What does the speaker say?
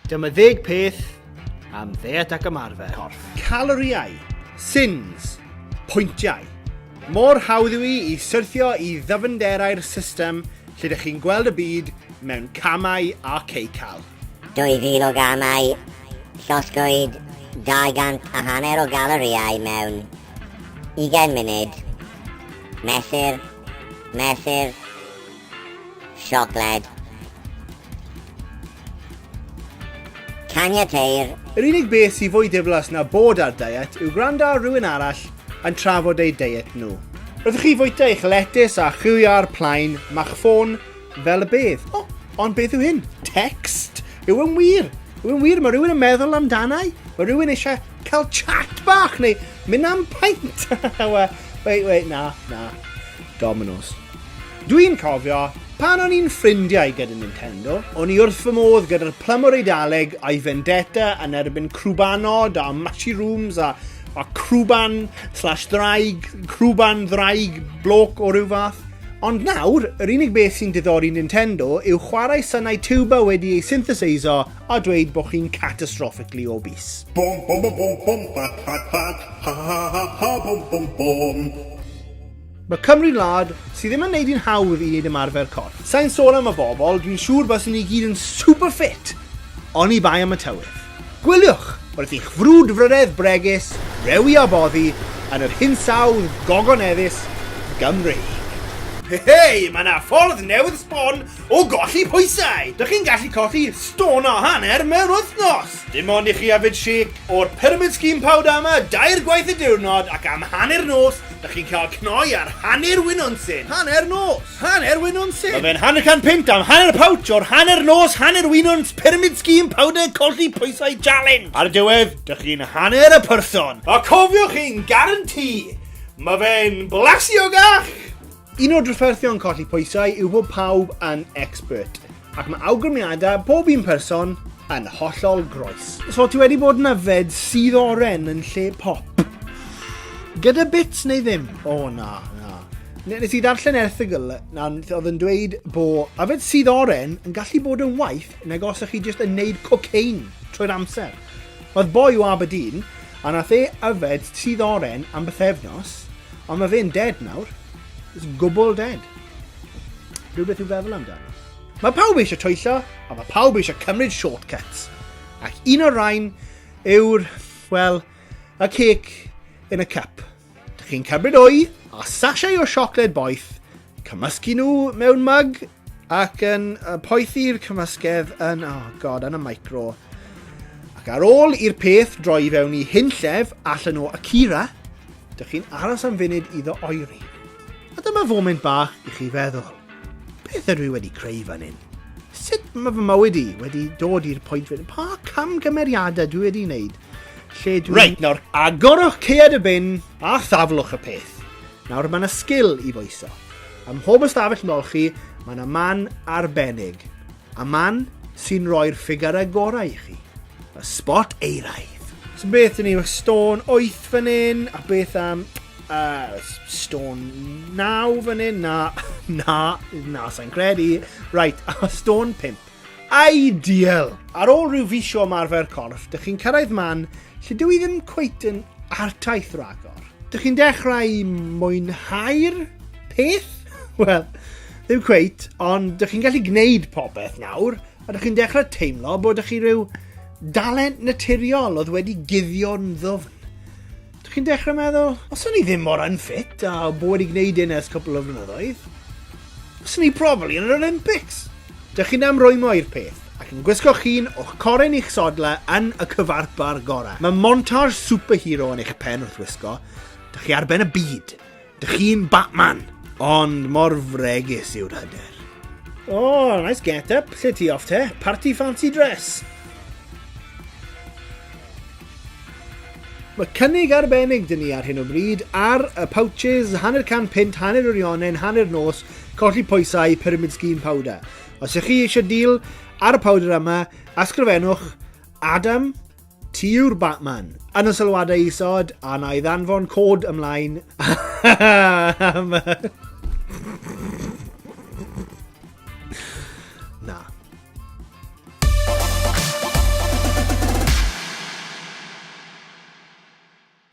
Dyma ddeg peth am ddeet ac ymarfer. Corff. Caloriau. Sins. Pwyntiau. Mor hawdd yw i i syrthio i ddyfnderau'r system lle ydych chi'n gweld y byd mewn camau a ceical. 2000 o gamau, llosgwyd 200 a hanner o galoriau mewn Ugain munud. Mesur. Mesur. Siocled. Caniateir. Yr unig beth sy'n fwy diflas na bod ar diet yw gwrando ar rhywun arall yn trafod eu diet nhw. Wrth i chi fwyta eich letys a chwilio ar plaen, ma'ch ffôn Fel y beth? O, ond beth yw hyn? Text? Yw yn wir? Yw yn wir? Mae rhywun yn meddwl amdanau? Mae rhywun eisiau cael chat bach neu mynd am paint? wait, wait, na, na. Dominoes. Dwi'n cofio, pan o'n i'n ffrindiau gyda Nintendo, o'n i wrth fy modd gyda'r plymwr eidaleg a'i vendetta yn erbyn crwbanod a mushrooms a, a crwban slash ddraig, crwban ddraig bloc o ryw fath. Ond nawr, yr unig beth sy'n diddori Nintendo yw chwarae synau tiwba wedi ei syntheseiso a dweud bod chi'n catastrophically obese. Bom bom bom bom bom bat bat bat ha ha ha ha ha bom bom bom. Mae Cymru'n wlad sydd ddim yn neud hi'n hawdd i neud ymarfer corff. Sai'n sôn am y bobl, dwi'n siŵr baswn ni gyd yn super fit! Oni bai am y tywydd. Gwyliwch wrth i'ch frwdfrydedd bregus rewi a boddi yn yr hinsawdd gogoneddus Gymreig. Hei, mae 'na ffordd newydd sbon o golli pwysau! Dych chi'n gallu colli stôn a hanner mewn wythnos! Dim ond i chi yfed shake o'r Pyramid Scheme Powder yma dair gwaith y diwrnod ac am hanner nos dych chi'n cael cnoi ar hanner winwns in hanner nos! Hanner Wynon Syn! Mae fe'n hanner can punt am hanner pouch o'r hanner nos hanner wynons pyramid scheme powder colli pwysau challenge. Ar y diwedd, dych chi'n hanner y person. A cofiwch i'n garantî, mae fe'n blasiogach! Un o'r drafferthion colli pwysau yw bod pawb yn expert. Ac mae awgrymiadau bob un person yn hollol groes. So ti wedi bod yn yfed sydd oren yn lle pop? Gyda bits neu ddim? O oh, na, na. Nes i ddarllen erthigol na oedd yn dweud bod yfed sydd oren yn gallu bod yn waith nag os ych chi jyst yn neud cocaine trwy'r amser. Oedd boi o Aberdeen, a nath e yfed sydd oren am bythefnos, ond mae fe'n dead nawr. It's gwbl dead. Rhywbeth i'w feddwl amdano. Mae pawb eisiau twyllo, a mae pawb eisiau cymryd shortcuts. Ac un o'r rhain yw'r, wel, y cec yn y cup. Dych chi'n cymryd o'i a sachau o siocled boeth, cymysgu nhw mewn mug ac yn poethi'r cymysgedd yn, oh god, yn y micro. Ac ar ôl i'r peth droi fewn i hunllef allan o Akira, Dych chi'n aros am funud iddo oeri. A dyma foment bach i chi feddwl, beth ydw i wedi creu fan hyn? Sut mae fy mywyd i wedi dod i'r pwynt fan hyn? Pa camgymeriadau dwi wedi wneud? Lle dwi... Reit, nawr agorwch cead y bin a thaflwch y peth. Nawr mae yna sgil i foeso. Ym mhob ystafell nol chi, mae yna man arbennig. A man sy'n rhoi'r ffigurau gorau i chi. Fy spot eiraidd. So beth yn ni, mae stôn 8 fan hyn, a beth am uh, stôn 9 fan hyn, na, na, na, sa'n credu. Right, a stôn 5. Ideal! Ar ôl rhyw fis o ymarfer corff, dych chi'n cyrraedd man lle dwi ddim cweit yn artaith ragor. Dych chi'n dechrau mwynhau'r peth? Wel, ddim cweit, ond dych chi'n gallu gwneud popeth nawr, Ydych chi'n dechrau teimlo bod chi rhyw dalent naturiol oedd wedi guddio'n ddwfn? Ydych chi'n dechrau meddwl, os o'n i ddim mor unfit a bod wedi gwneud un ers cwpl o flynyddoedd, os o'n i probably yn yr Olympics? Dych chi'n amrwymo i'r peth, ac yn gwisgo llun o'ch corin i'ch sodle yn y cyfarpar gorau. Mae montage superhero yn eich pen wrth wisgo, dych chi ar ben y byd. Dych chi'n Batman, ond mor fregus yw'r hyder. Oh, nice get up. Lle ti off te? Party fancy dress. Mae cynnig arbennig dyn ni ar hyn o bryd ar y pouches, hanner can pint, hanner yr ionen, hanner nos, colli pwysau, pyramid scheme powder. Os ych chi eisiau deal ar y powder yma, asgrifennwch Adam Ti yw'r Batman! Yn y sylwadau isod, a na i ddanfon cod ymlaen am...